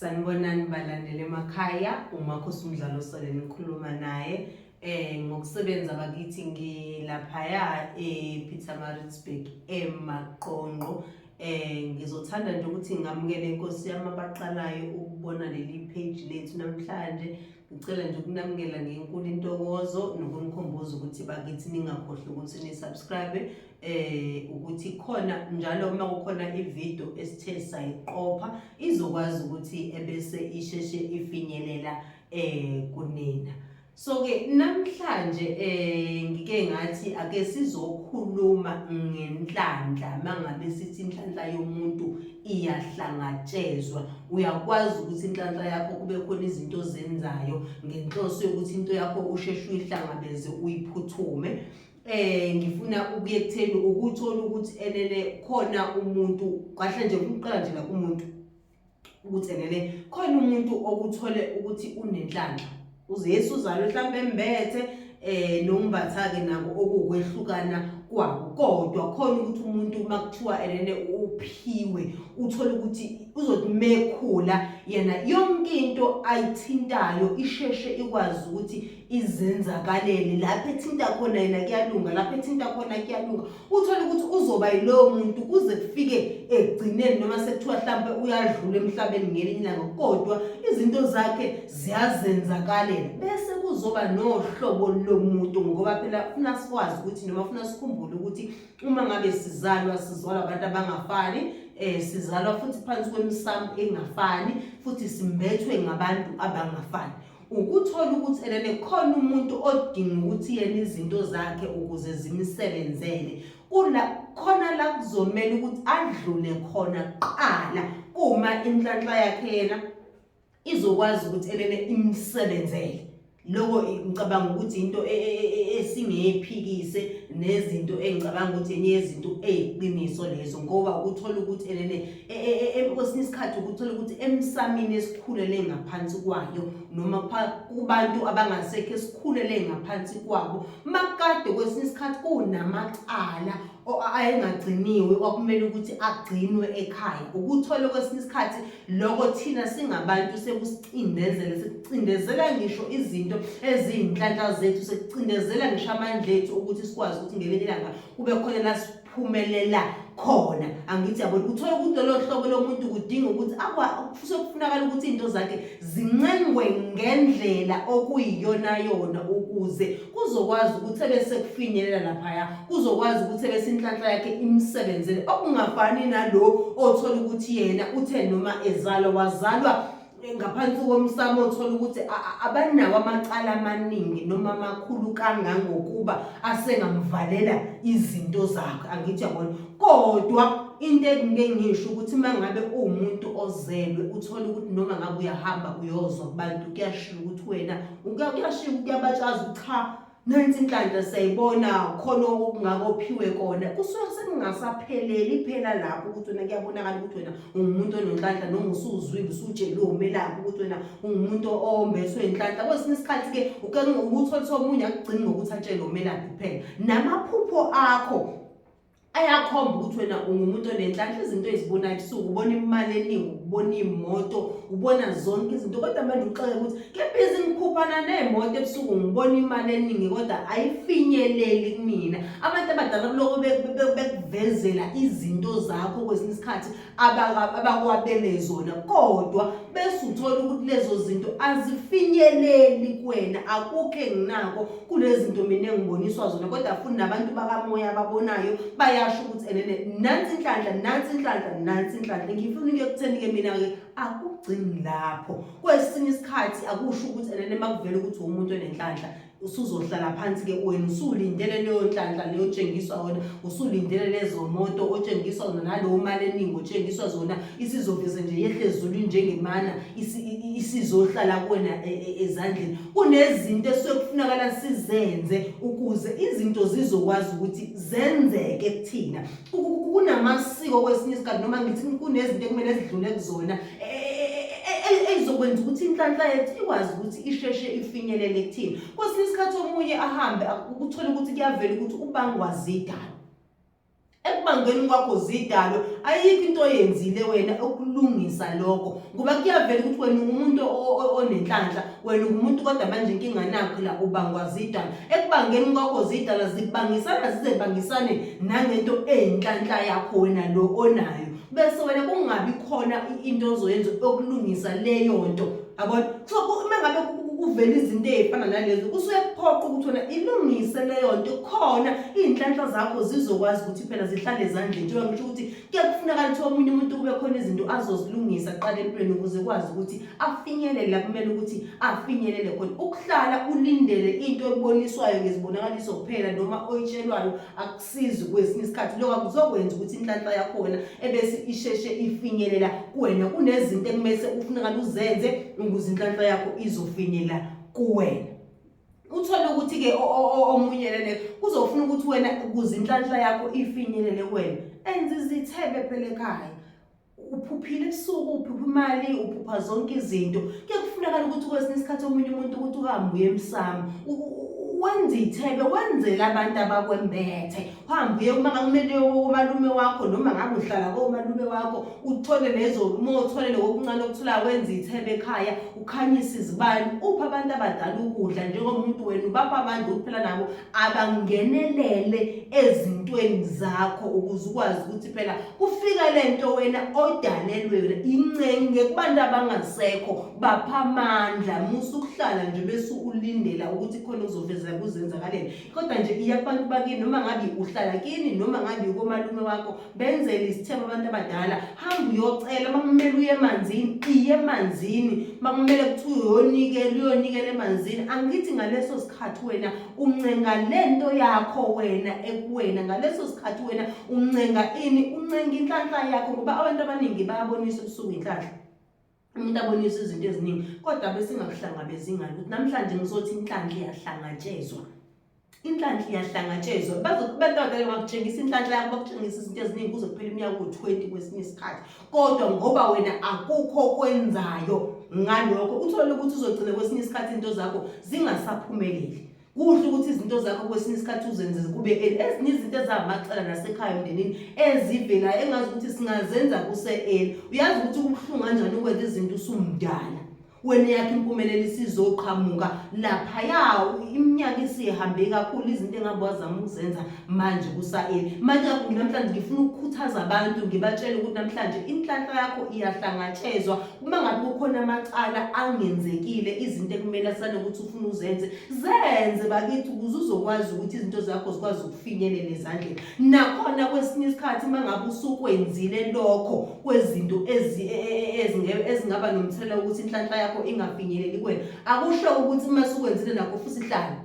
Sanibonani balandele emakhaya umakhosi umdlalo sole nikhuluma naye eh ngokusebenza bakithi ngilaphaya ePietermaritzburg eMaqonqo eh ngizothanda nje ukuthi ngamukele inkosi yami abaqalayo ukubona leli page lethu namhlanje Ngicela nje ukunamukela ngenkulu intokozo nokumkhumbuza ukuthi bakithi ningakhohlwa ukuthi nisubscribe eh ukuthi khona njalo uma kukhona ivideo esithe sayiqopha izokwazi ukuthi ebese isheshe ifinyelela eh kunina so ke namhlanje eh ngike ngathi ake sizokhuluma ngenhlanhla mangabe sithi inhlanhla yomuntu iyahlangatshezwa uyakwazi ukuthi inhlanhla yakho kube khona izinto ozenzayo ngenhloso yokuthi into yakho usheshe uyihlangabeze uyiphuthume eh ngifuna ukuye kutheni ukuthola ukuthi enene khona umuntu kahle nje kumqala nje la kumuntu ukuthi enene khona umuntu okuthole ukuthi unenhlanhla uZesu uzalo mhlawumbe embethe eh nombatha-ke nako okuwukwehlukana kwabo kodwa khona ukuthi umuntu uma kuthiwa enene uphiwe uthole ukuthi uzothi mekhula yena yonke into ayithintayo isheshe ikwazi ukuthi izenzakalele lapho ethinta khona yena kuyalunga lapho ethinta khona kuyalunga uthole ukuthi uzoba yilowo muntu kuze kufike ekugcineni noma sekuthiwa hlampe uyadlula emhlabeni ngelinye ilanga kodwa izinto zakhe ziyazenzakalela bese kuzoba nohlobo lomuntu ngoba phela funa sikwazi ukuthi noma funa sikhumbule ukuthi uma ngabe sizalwa sizalwa abantu abangafani eh sizalwa futhi phansi kwemisamu engafani futhi simbethwe ngabantu abangafani ukuthola ukuthi ena nekhona umuntu odinga ukuthi yena izinto zakhe ukuze zimsebenzele kula khona la kuzomela ukuthi adlule khona kuqala uma inhlanhla yakhe yena izokwazi ukuthi elele imsebenzele lokho ngicabanga ukuthi into e, e, e, esingeyiphikise nezinto engicabanga ukuthi enye yezinto eyiqiniso lezo ngoba ukuthola ukuthi elele E, e, e, kwesinye isikhathi ukuthola ukuthi emsamini esikhulele ngaphansi kwayo noma kubantu abangasekho esikhulele ngaphansi kwabo makade kwesinye isikhathi kunamacala ayengagciniwe kwakumele ukuthi agcinwe ekhaya ukuthola kwesinye isikhathi lokho thina singabantu sekusiqindezela sekucindezela ngisho izinto eziyinhlanhla zethu sekucindezela ngisho amandla ethu ukuthi sikwazi ukuthi ngelinye ilanga kube khona la phumelela khona angithi yabo uthola ukuthi lolo hlobo lomuntu kudinga ukuthi sokufunakala ukuthi into zakhe zincengwe ngendlela okuyiyona yona ukuze kuzokwazi ukuthi ebese kufinyelela laphaya kuzokwazi ukuthi ebese inhlanhla yakhe imsebenzele okungafani nalo othola ukuthi yena uthe noma ezalwa wazalwa ngaphansi komsamo othola ukuthi abanawo amacala amaningi noma amakhulu kangangokuba asengamvalela izinto zakhe angithi yabona kodwa into engike ngisho ukuthi uma ngabe uwumuntu ozelwe uthole ukuthi noma ngabe uyahamba uyozwa kubantu kuyashiya ukuthi wena kuyashiya kuyabatshaza ukuthi cha nansi inhlanhla siyayibona khona okungakophiwe kona kusuke sekungasapheleli phela lapho ukuthi wena kuyabonakala ukuthi wena ungumuntu onenhlanhla noma usuzwile usutsheliwe umelaphi ukuthi wena ungumuntu ombeswe inhlanhla kwesinye isikhathi-ke ukuthola ukuthi omunye akugcini ngokuthi atshele umelaphi kuphela namaphupho akho ayakhomba ukuthi wena ungumuntu onenhlanhla izinto ezibona ebusuku ubona imali eningi ubona iy'moto ubona zonke izinto kodwa manje uxoke ukuthi kebhizi ngikhuphana ney'moto ebusuku ngibona imali eningi kodwa ayifinyeleli kumina abantu abadala kuloko bekuvezela izinto zakho kwesinye isikhathi abakwabele zona kodwa bese uthola ukuthi lezo zinto azifinyeleli kuwena akukho enginako kulezi zinto mina engiboniswa zona kodwa futhi nabantu bakamoya ababonayo bayasho ukuthi enene nansi inhlanhla nansi inhlanhla nansi inhlanhla ngifuna into yokutheni-ke mina-ke akugcini lapho kwesinye isikhathi akusho ukuthi enene makuvele ukuthi uwumuntu onenhlanhla usuzohlala phansi ke wena usulindele leyo nhlanhla leyo tshengiswa wena usulindele lezo moto otshengiswa zona nalowo mali eningi otshengiswa zona isizoveze nje yehle ezulwini njengemana isizohlala kuwena e, e, ezandleni kunezinto esekufunakala sizenze ukuze izinto zizokwazi ukuthi zenzeke kuthina kunamasiko kwesinye isikhathi noma ngithi kunezinto ekumele zidlule kuzona ezokwenza ukuthi inhlanhla yethu ikwazi ukuthi isheshe ifinyelele kuthini kwesinye isikhathi omunye ahambe ukuthola ukuthi kuyavela ukuthi ubangwa zidalo ekubangeni kwakho zidalo ayikho into oyenzile wena okulungisa lokho ngoba kuyavela ukuthi wena ungumuntu onenhlanhla wena ungumuntu kodwa manje inkinga nakho la ubangwa zidalo ekubangeni kwakho zidala zibangisana zizebangisane nangento eyinhlanhla yakho wena lo onayo bese wena kungabi khona into ozoyenza okulungisa leyo nto yabona so uma ngabe kuvela izinto ezifana nalezo kusuke kuphoqa ukuthi wena ilungise leyo nto khona izinhlanhla zakho zizokwazi ukuthi phela zihlale ezandleni njengoba ngisho ukuthi kuye kufunakala ukuthi omunye umuntu kube khona izinto azozilungisa qala empilweni ukuze kwazi ukuthi afinyelele la kumele ukuthi afinyelele khona ukuhlala ulindele into eboniswayo ngezibonakaliso kuphela noma oyitshelwayo sizi kwesinye isikhathi lokho kuzokwenza ukuthi inhlanhla yakhona ebese isheshe ifinyelela kuwena kunezinto ekumese ufunakala uzenze ukuze inhlanhla yakho izofinyelela kuwena uthole ukuthi ke omunye lele kuzofuna ukuthi wena ukuze inhlanhla yakho ifinyelele kuwena enze izithebe phela ekhaya uphuphile ebusuku uphupha imali uphupha zonke izinto kuye kufunakala ukuthi kwesinye isikhathi omunye umuntu ukuthi uhambe uye emsamo wenza ithebe wenzela abantu abakwembethe uhambe uye uma ngakumele komalume wakho noma ngabe uhlala komalume wakho uthole lezo uma uthole lokokuncane okuthola wenza ithebe ekhaya ukhanyise izibani upha abantu abadala ukudla njengomuntu wena ubapha abantu ukuphela nabo abangenelele ezintweni zakho ukuze ukwazi ukuthi phela kufika lento wena odalelwe wena incenge kubantu abangasekho bapha amandla musa ukuhlala nje bese ulindela ukuthi khona uzoveza kuzenzakaleni kodwa nje iya kubantu bakini noma ngabe uhlala kini noma ngabe ukomalume wakho benzele isithembu abantu abadala hamba uyocela makumele uye emanzini iye emanzini makumele kuthiwe uyonikela uyonikela emanzini angithi ngaleso sikhathi wena uncenga le nto yakho wena ekuwena ngaleso sikhathi wena uncenga ini uncenga inhlanhla yakho ngoba abantu abaningi bayabonisa ubusuku inhlanhla umuntu abonisa izinto eziningi kodwa besingakuhlangabezi ngani ukuthi namhlanje ngizothi inhlanhla iyahlangatshezwa inhlanhla iyahlangatshezwa bazokubantwana bakutshengisa inhlanhla yakho bakutshengisa izinto eziningi kuze kuphela iminyaka u-20 kwesinye isikhathi kodwa ngoba wena akukho okwenzayo ngalokho uthole ukuthi uzogcina kwesinye isikhathi into zakho zingasaphumeleli kuhle ukuthi izinto zakho kwesinye isikhathi uzenze kube ezinye izinto ezamacala nasekhaya emndenini ezivelayo engazi ukuthi singazenza kuse-eli uyazi ukuthi kubuhlungu kanjani ukwenza izinto usumdala wena yakhe impumelelo isizoqhamuka laphaya iminyaka isihambe kakhulu izinto engabe wazama ukuzenza manje kusa-eli manje namhlanje ngifuna ukukhuthaza abantu ngibatshele ukuthi namhlanje inhlanhla yakho iyahlangatshezwa uma ngabe kukhona amacala angenzekile izinto ekumele asale ukuthi ufuna uzenze zenze bakithi ukuze uzokwazi ukuthi izinto zakho zikwazi ukufinyelela ezandleni nakhona kwesinye isikhathi uma ngabe usukwenzile lokho kwezinto e, e, e, ezingaba nomthelela wokuthi inhlanhla yakho ingafinyeleli kuwena akusho ukuthi uma sukwenzile nakho futhi hlala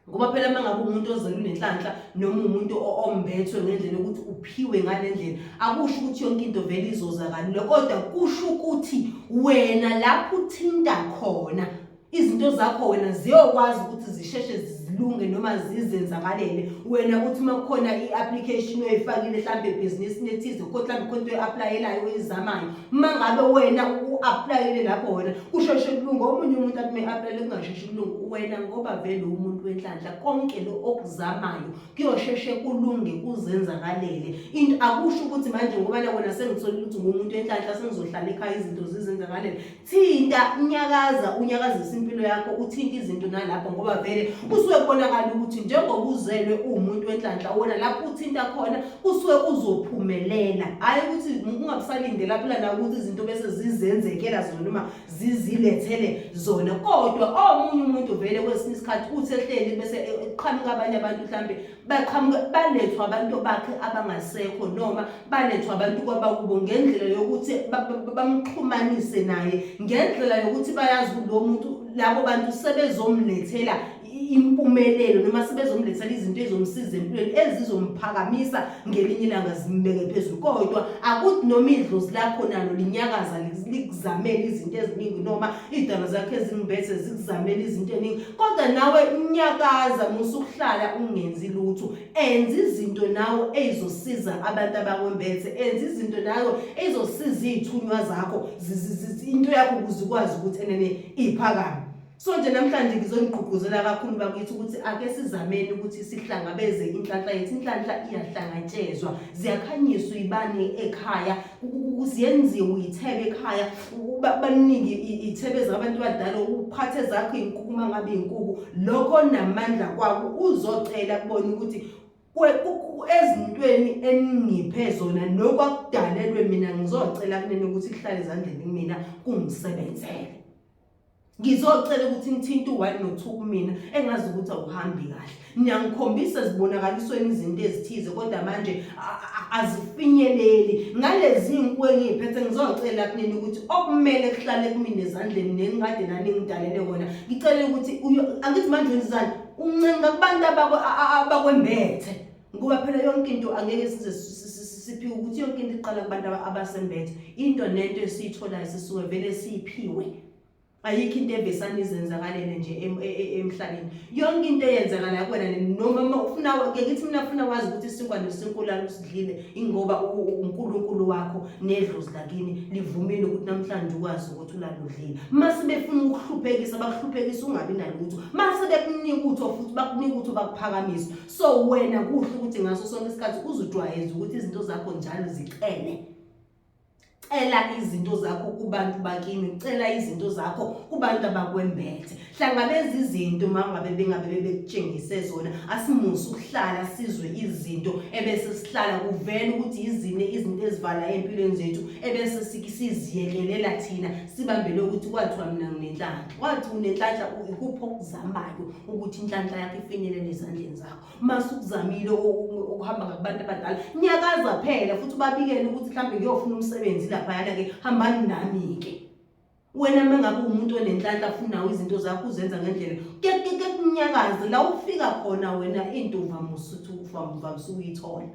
ngoba phela uma ngabe umuntu ozele unenhlanhla noma umuntu ombethwe ngendlela ukuthi uphiwe ngale ndlela akusho ukuthi yonke into vele izoza kalula kodwa kusho ukuthi wena lapho uthinta khona izinto zakho wena ziyokwazi ukuthi zisheshe zilunge noma zizenzakalele wena ukuthi uma kukhona i-application oyifakile mhlawumbe ebhizinisini ethize kodwa mhlawumbe khona into oyi-aplayelayo oyizamayo uma ngabe wena u-aplayele lapho wena kusheshe kulunge omunye umuntu athi uma i-aplayele kungasheshi wena ngoba vele umuntu wenhlanhla konke lo okuzamayo kuyosheshe kulunge kuzenzakalele into akusho ukuthi manje ngoba na wena sengithola ukuthi ngumuntu wenhlanhla sengizohlala ekhaya izinto zizenzakalele thinta unyakaza unyakazisa impilo yakho uthinte izinto nalapho ngoba vele kusuke kubonakala ukuthi njengoba uzelwe uwumuntu wenhlanhla wona lapho uthinta khona kusuke uzophumelela hhayi ukuthi ungabusalindela phela nakuthi izinto bese zizenzekela zona noma zizilethele zona kodwa omunye umuntu vele kwesinye isikhathi uthi ehleli bese eqhamuka abanye abantu mhlambe baqhamuka balethwa abantu bakhe abangasekho noma balethwa abantu kwabakubo ngendlela yokuthi bamxhumanise naye ngendlela yokuthi bayazi lo muntu labo bantu sebezomlethela impumelelo noma sebezomlethela izinto ezomsiza empilweni ezizomphakamisa ngelinye ilanga zimbeke phezulu kodwa akuthi noma idlozi lakho nalo linyakaza likuzamele izinto eziningi noma iy'dalo zakhe ezingimbethe zikuzamele izinto eningi kodwa nawe unyakaza musukuhlala ungenzi lutho enza izinto nawe ey'zosiza abantu abakwembethe enza izinto nawe ey'zosiza iy'thunywa zakho into yakho ukuze ukwazi ukuthi enene iphakame So nje namhlanje ngizonigqugquzela kakhulu bakithi ukuthi ake sizameni ukuthi sihlangabeze inhlanhla yethu inhlanhla iyahlangatshezwa ziyakhanyiswa ibani ekhaya kuyenziwe uyithebe ekhaya baningi iy'thebe zabantu abadala uphathe zakho iy'nkuku uma ngabe iy'nkuku lokho namandla kwako uzocela kubona ukuthi ezintweni eningiphe zona nokwakudalelwe mina ngizocela kunene ukuthi kuhlale ezandleni kumina kungisebenzele ngizocela ukuthi ngithinte u-one no-two kumina engazi ukuthi awuhambi kahle niyangikhombisa zibonakalisweni izinto ezithize kodwa manje azifinyeleli ngalezi nku engiyiphethe ngizocela kunini ukuthi okumele kuhlale kumina ezandleni nenkade naningidalele kona ngicele ukuthi angithi manje wenzizani uncenga kubantu abakwembethe ngoba phela yonke into angeke size siphiwe ukuthi yonke into iqala kubantu abasembethe into nento esiyitholayo sisuke vele siyiphiwe ayikho into evesana izenzakalele nje e, e, emhlabeni yonke into eyenzakala kuwena noma ufuna ke ngithi mina ufuna wazi ukuthi isinkwa nesinkulala usidlile ingoba uNkulunkulu wakho nedlozi lakini livumile ukuthi namhlanje ukwazi ukuthi ulaludlile mase befuna ukuhluphekisa bakuhluphekisa ungabi nalutho mase bekunika utho futhi bakunika utho bakuphakamisa so wena kuhle ukuthi ngaso sonke isikhathi uzujwayeza ukuthi izinto zakho njalo zicele cela izinto zakho kubantu bakini cela izinto zakho kubantu abakwembethe hlangabeza izinto uma ngabe bengabe bebekutshengise zona asimusa ukuhlala sizwe izinto ebese sihlala kuvele ukuthi yizine izinto ezivala empilweni zethu ebese siziyekelela thina sibambele ukuthi kwathiwa mina nginenhlanga wathi unenhlanhla ikuphi okuzamayo ukuthi inhlanhla yakho ifinyelele ezandleni zakho uma sukuzamile ukuhamba ngakubantu abadala nyakaza phela futhi ubabikele ukuthi mhlawumbe ngiyofuna umsebenzi laphayana-ke hambani nami-ke wena uma ngabe umuntu onenhlanhla afunawo izinto zakho uzenza ngendlela kekunyakaze la ufika khona wena intombi amusuthi ufa mva usuyithola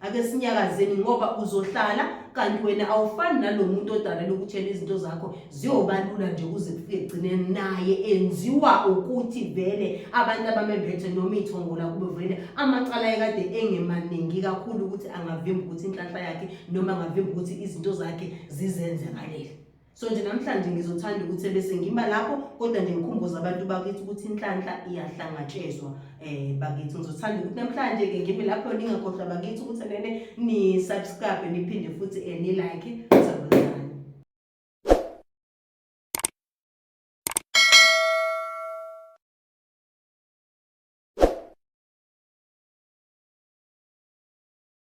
ake sinyakazeni ngoba uzohlala kanti wena awufani nalo muntu odalela ukutshela izinto zakho ziyobalula nje kuze kufike egcineni naye enziwa ukuthi vele abantu abamembethe noma iy'thongola kube vele amacala yekade engemaningi kakhulu ukuthi angavimba ukuthi inhlanhla yakhe noma angavimba ukuthi izinto zakhe zizenze ngaleli so nje namhlanje ngizothanda ukuthi ebese ngima lapho kodwa nje ngikhumbuza abantu bakithi ukuthi inhlanhla iyahlangatshezwa eh bakithi ngizothanda ukuthi namhlanje ke ngime lapho ningakhohlwa bakithi ukuthi nene ni subscribe niphinde futhi eh, ni like